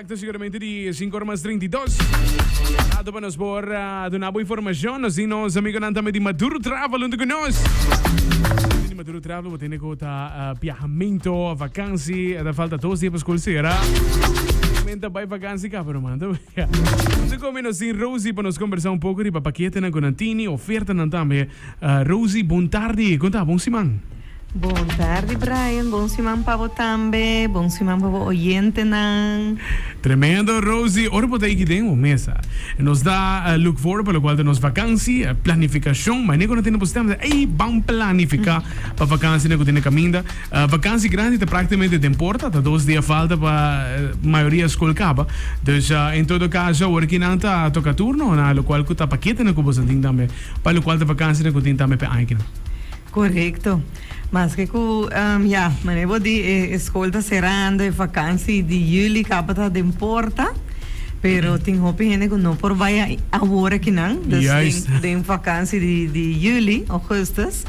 Exacto, seguramente di e sinku ora mas treinta i dos. Rato pa nos por ah, duna bo informashon. Nos tin nos amigonan tambe di Maduro Travel huntu ku nos. Tin di Maduro Travel bo tende ku ta ah, biahaminto, vakansi, e ta falta dos dia pa skol sera. Men ta bai vakansi kaba no manta. Huntu ku mi nos tin Rosie pa nos kombersá un poko riba paketenan ku nan tini, ofertanan tambe. Rosie bon tardi con ta bon siman. Bon tardi Brian, bon siman pa bo tambe, bon siman pa bo oyentenan. Tremendo Rosie, ora bo ta yeki den bo mesa nos ta look forward pa locual ta nos vakansi, planificacion, maneco no tene bo stem ta ey ban planifica pa vakansina cu ta na caminda, vakansi grandi ta practicamente den porta, ta dos dia falta pa mayoria school caba, dus en todo caso awor ki nan ta toca turno na locual cu ta paketanan cu boso antin tambe. Pa locual ta vakansia den ku tin tambe p'e aña kina. Korekto. Maske ku ya, manera bo di e skol ta serando, e vakansi di juli tabata den porta, pero tin hopi hende ku no por bai awor kinan. Dus Juist. den den vakansi di di juli, ougustus,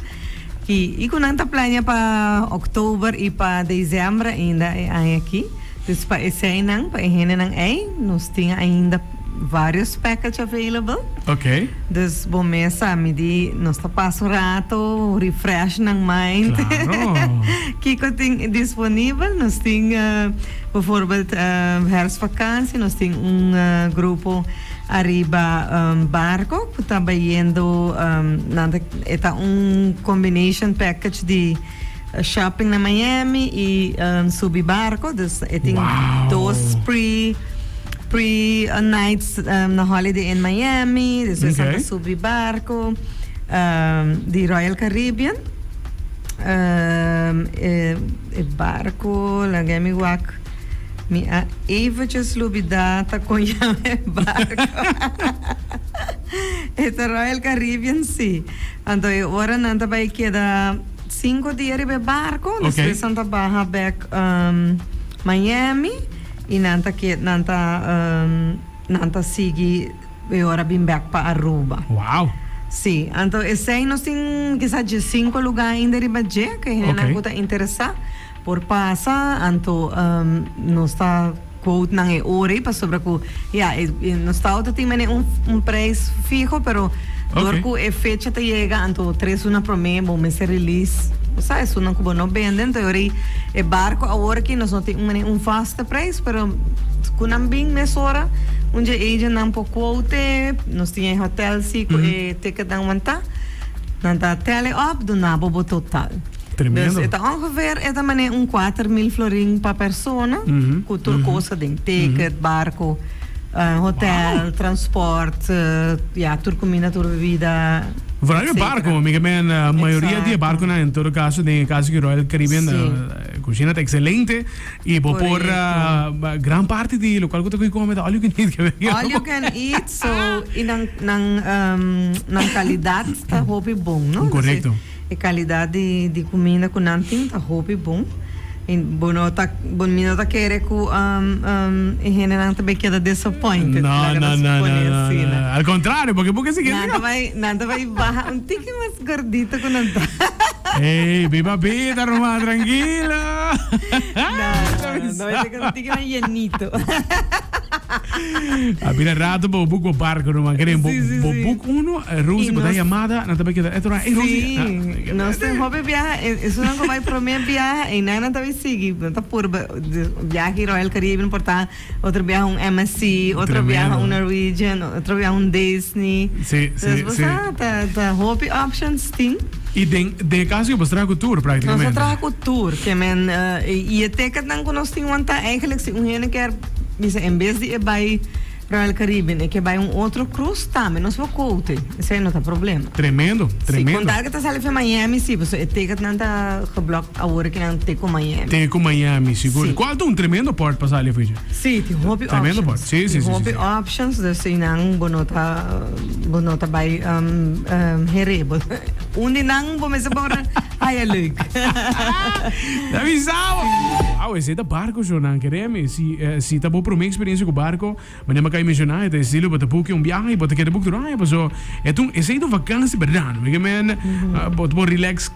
ki i ku nan ta plaña pa òktober i pa desèmber ainda e aña aki. Dus pa eseinan, pa e hendenan ei nos tin ainda. varios package available. Ok. Dus bo mes sa mi di nos ta pasa un rato refresh nan mind. Claro. Kiko tin disponibel? Nos tin bijvoorbeeld herfstvakantie nos tin un grupo ariba barco ku ta bayendo nan e ta un combination package di. shopping na Miami y subi barco dus e tin dos pre pre nights na holiday in Miami despues nan ta subi barco di Royal Caribbean e barco laga mi wak mi a eventjes lubida ta con yawe e barco e ta Royal Caribbean si. Anto e ora nan ta bai keda sinku dia riba e barco, despues nan ta baha bek Miami y nan ta ke, nan ta, nan ta sigui e ora bin bek pa Aruba. Wow! Sí, anto esei nos tin kisa dje sinku lugar ainda riba dje, ke hendenan ku ta interesa. Por pasa, anto nos ta quote nan e ora ei pasobra cu ya e nos tao ta tin mene un un prijs fiho pero door Okay. cu e fecha ta yega anto tres luna prome bo mester release bo sa esunnan cu bo no bende anto e ora ei e barco awor aki nos no tin un mene un vaste prijs pero cu nan bin mesora un dje agent nan por quote nos tin e hotel si cu e ticketnan wanta nan ta tally up duna bo bo total. Tremendo. E ta ongeveer eta manera un kuater mil florin pa persona, ku tur kosa den, ticket, barko, hotel, transport, ya, tur kuminda, tur bebida, etsetera. Vooral e barko, mi ke men mayoria di e barkonan en todo kaso den e kaso di Royal Caribbean ta kushina ta ekselente i bo por gran parti di lokal ku ta koe kome ta all you can eat kewe. All you can eat, so i nan kalidat ta hopi bon, no. Korekto. E calidad di di cuminda cu nan tin ta hopi bon y bo no ta bo mi no ta kere cu e hendenan ta bay keda disappointed No, laga no, nos no, pone no, asina. no. Al contrario, porque bo ke sigui nan ta asina. bay nan ta bay baha un tiki mas gordito cu nan ta. Ey, mi papita Román, tranquilo. Nan ta bay segun. Gran Yenito. A bira rato pa bo boek bo barco no man keren bo Sí, sí, bo sí. boek uno eh, Rosie Y bo da nos- llamada na tabe keda eto na hey Rosie Sí, ah, nos ten hopi biaha. e- Eso nan ku bai promé biaha en nan nan tabi sigui. Nan ta pur ba- de- biaha ki Royal Caribbean por ta otro biaha un MSC, otro Tremendo. biaha un Norwegian, otro biaha un Disney. Sí, sí, Entonces, bo sí. sa, ta, ta hopi options tin. Y den den e caso yo pues traha cu tur practicamente. Nos a traha cu tur que men y e ticketnan cu nos tin wanta eigenlijk si un hende kier bisa en bes di e bay Royal Caribbean e ke bay un otro cruise tambe nos lo cote esey no ta problem. Tremendo tremendo. Si con tal ke ta sali fe Miami si paso e ticketnan ta geblock awor ke nan te cu Miami. Te cu Miami sigur y cual ta un tremendo port pa sali afuichi. Si tin hopi options. Tremendo port si si si si. Tin hopi options dus eyinan bo no ta. Bo no ta bai heré bo. Un di nan bo mester por haya leuk. Ta bisa bo. Wauw, esei ta barco show nan. Keremi, si ta bo prome experiencia cu barco, manera Makai menciona, e ta estilo bo ta buki un biaha y bo ta keda buki tur aya, paso esei ta un vakantie berdad, no? Bo ta por relax.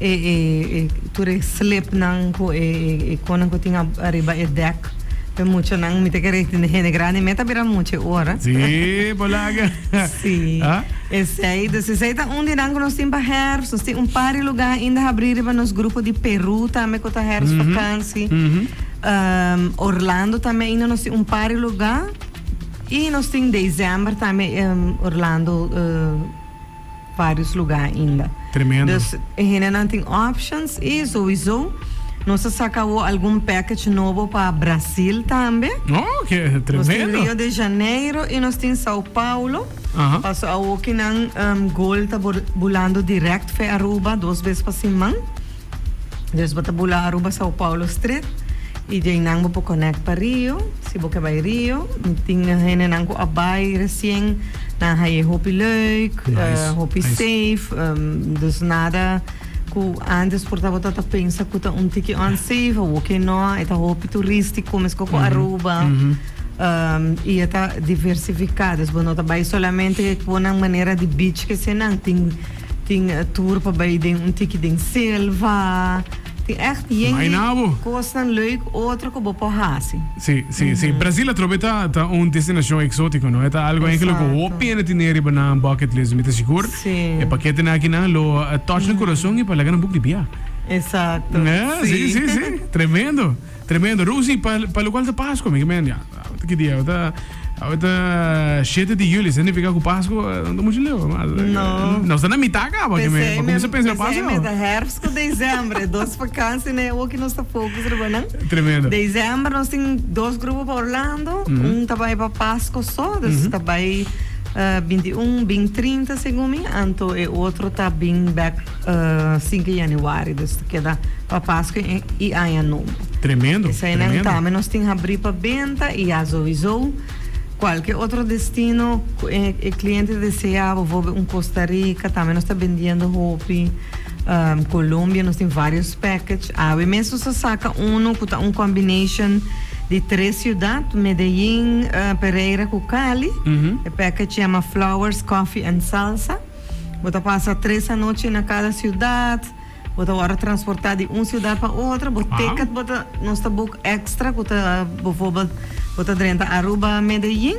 E e e tur e slip nan cu e e e conan cu tin ariba e dek pe mucho nan mi ta kere tin den hende grandi me ta bira mucho e ora Sí, por laga. Sí, Ah? esey. Dus esey ta un di nan cu nos tin pa herfst. Nos tin un par di lugar ainda habri riba nos grupo di Peru tambe cu ta herfst vakantie. Ehm, Orlando tambe ainda nos tin un par di lugar. Y nos tin december tambe, ehm, Orlando, eh, varios lugar ainda. Tremendo. Dus e hendenan tin options y sowiso nos ta saca awo algun package nobo pa Brasil tambe. Oh, que tremendo. Nos tin Rio de Janeiro y nos tin Sao Paulo. Aha. Paso awoki nan em, goal ta bor- bulando direct fe Aruba dos bes pa siman. Deus bo ta bula Aruba Sao Paulo street y de aynan bo por connect pa Rio si bo ke bay Rio. Tin hendenan cu a bay recien nan haye hopi leuk, hopi safe dus nada cu antes por ta bo ta pensa cu ta un tiki unsafe o bo ke no eta hopi turistico mesco cu Aruba y eta diversifica. Dus bo no ta bay solamente cu nan manera di beach kese nan tin. Tin tur pa bay den un tiki den selva. Tin echt yende cosnan leuk otro cu bo por haci. Sí, sí, sí. Brasil atrobe ta ta un destinacion exótico, no? E ta algo enki lo cu hopi hende tene riba nan bucket list. Mi ta sigur e pakete aki nan lo touch nan curason i pa laga nan buki di bia. Exacto. Sí, sí, sí. Tremendo. Tremendo Rusi pa pa lo cual ta Pascua mi men ya awor ta ki dia awor ta awor ta shete di juli significa cu Pascua no ta mucho leu mas nos ta na mita caba ki men pa cuminsa pensa na Pascua awor. P'esei mi ta herfst cu december dos vakantie na e awo ki nos ta focus riba nan Tremendo december nos tin dos grupo pa Orlando un ta bay pa Pascua so dus ta bay binti un bin trinta segun mi anto e otro ta bin back Sinku Yanuari, dus ta keda pa Paskua i Aña Nobo. Tremendo, tremendo. Esei nan ta, mi nos tin habrí pa benta i ya zoisou kualke otro destino ku e kliente desea, bovobe un Kosta Rika tambe nos ta bendiendo hopi, Kolombia nos tin vários package. Awe mes nos a saka unu ku ta un combination di tres siudat, Medellín, Pereira ku Cali. E package yama Flowers, Coffee and Salsa. Bo ta pasa tres anochi na cada ciudad, bo ta wòrdu transportá di un ciudad pa otro, bo ticket bo ta, nos ta boek extra cu ta bovorbel bo ta drenta Aruba, Medellín,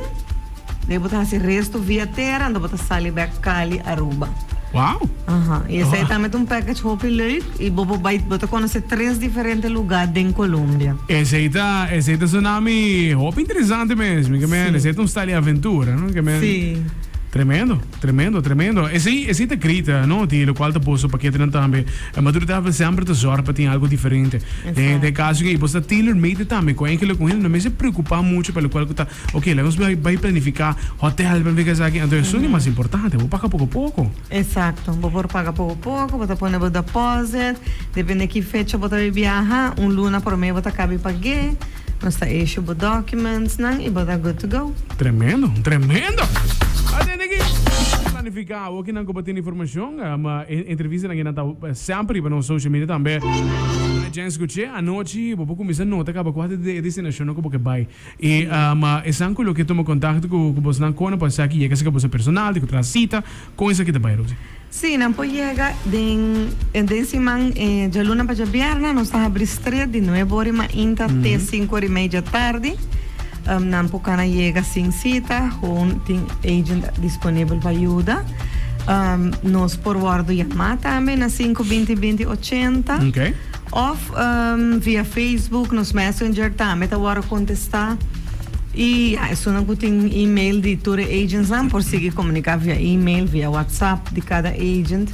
de ahí bo ta haci resto via tera anto bo ta sali bek Cali, Aruba. Aha, y esei ta met un package hopi leuk y bo por bai, bo ta conoce tres diferente lugar den Colombia. Esei ta, esei ta sona mi hopi interesante mes, mi ke men, esei ta un stal di aventura, no? Ke men, tremendo. Tremendo, tremendo. Esei, esei ta grita, no? Di locual ta boso paketenan tambe. E maturidadnan semper ta zorg pa tin algo diferente. Den, den Exacto. caso aki, bo sta tailor-made tambe cu enkele cu hende. No mester preocupa mucho pa locual cu ta, oké, laga nos bai, bai planifica hotel, planifica esaki. Anto esun di mas importante. Bo paga poco poco. Exacto. Bo por paga poco poco, bo ta pone bo deposit. Depende ki fecha bo ta bai biaha, un luna prome bo ta cabe pag'é. Nos ta issue bo documents nan y bo ta good to go. Tremendo! Tremendo! Atende aki! Planifica awo kinan cu bo tin informacion. Entrevista nan ta semper riba nos social media tambe. Mira Jens Scuche, anochi bo por cuminsa nota caba cua ta e destinacionnan cu bo ke bay. Y esan cu lo ke tuma contacto cu bosnan cono pa sa ki yega si cu boso personal, di cu traha cita. Kon esaki ta bai, Rosy? Sí, nan por yega den den siman djaluna pa djabièrnè. Nos ta habri stret di nuebe ora i mainta te sinku ora i mei dja tardi. Nan por kana yega sin sita, hon tin agent disponibel pa yuda. Nos por wòrdu yamá tambe na sinku binti binti ochenta. Of via Facebook, nos messenger tambe ta wòrdu kontestá. I ya esunnan ku tin email di tur e agentsnan por sigui komuniká via email, via whatsapp di kada agent.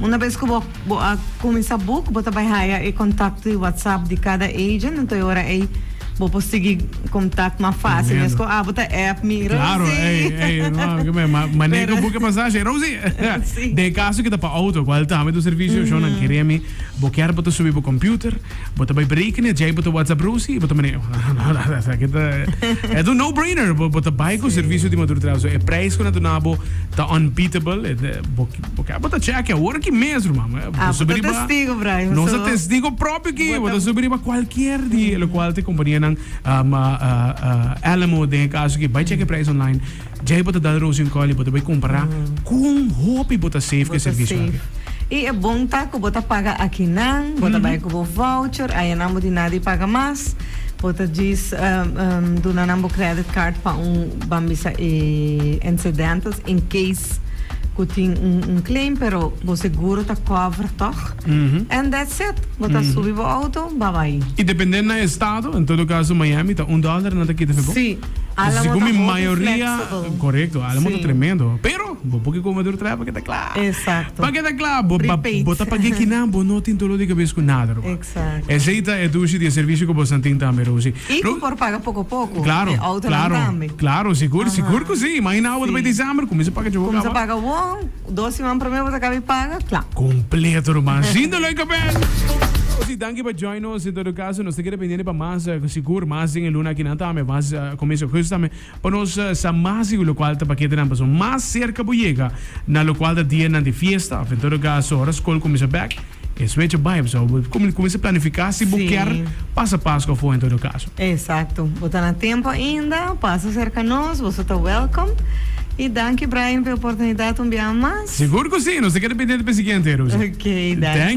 Una bes ku bo a kuminsá buk, bo ta bai haya e kontakto di whatsapp di kada agent, anto e ora ei bo por sigui kontakt mas fásil mes ku abo ta app mi, Rosie. Pero. Dei kaso ku ta pa outo, kual tambe ta un servisio shonnan kere mi. Bo kier bo ta subi bo computer, bo ta bai berekenen, djei bo ta whatsapp Rosie y bo ta mane, esaki ta, e ta un no brainer, bo bo ta bai cu servicio di Maduro Travel. So e prijs cu nan duna bo ta unbeatable, e bo bo kier bo ta check awor aki mes ruman, bo ta subi riba. Ah, bo ta testigo Brian, so. Nos ta testigo propio aki, bo ta subi riba cualkier di e locualnan, e companianan, Alamo den e caso aki, bai check e prijs online. Djai bo ta dal rosi un call y bo ta bay compara con hopi bo ta save cu e servicio aki. Y e bon ta cu bo ta paga akinan, bo ta bay cu bo voucher, aya nan bo di nada y paga mas. Bo ta djis duna nan bo credit card pa un, ban bisa e incidentals, in case cu tin un claim, pero bo seguro ta cover tog. And that's it. Bo ta subi bo auto, babay. Y depende na estado, en todo caso Miami ta un dollar nan ta kita fe bo? Si. Ala motor ta hopi flexible. Correcto, ala motor tremendo. Pero bo por ki comador trae pa ke ta cla. Exacto. Pa ke ta cla, bo Prepaid. bo ta pag'e kinan, bo no tin dolor di cabez cu nada rumah. Exacto. Esey ta e dushi di e servicio cu boso a tin tambe, Rosy. Y cu por paga poco poco. Claro, claro. E autonan tambe. Claro, sigur, sigur cu si. Imagina awo ta bay december, cuminsa paga djogo caba. Cuminsa paga won. Dos siman prome bo ta kabe paga kla. Completo ruman sin dolor y cabeza. Nos di danki pa join nos en todo caso nos ta keda pendiente pa mas sigur mas den e luna akinan tambe mas comienzo de augusto tambe pa nos sa mas sigur locual ta paketenan pasobra mas cerca bo yega na locual ta dianan di fiesta of en todo caso ora school cuminsa bek. E swecha bai bo sa, bo komi kuminsá planifiká si bo kier pasa Paskua afó en todo kaso. Esakto. Bo ta na tempu ainda, pasa serka nos, boso ta wèlkom. I danki Brian pa e oportunidat un biaha mas. Sigur ku si, nos ta keda pendiente pa e siguiente, Rose. Ok, danki.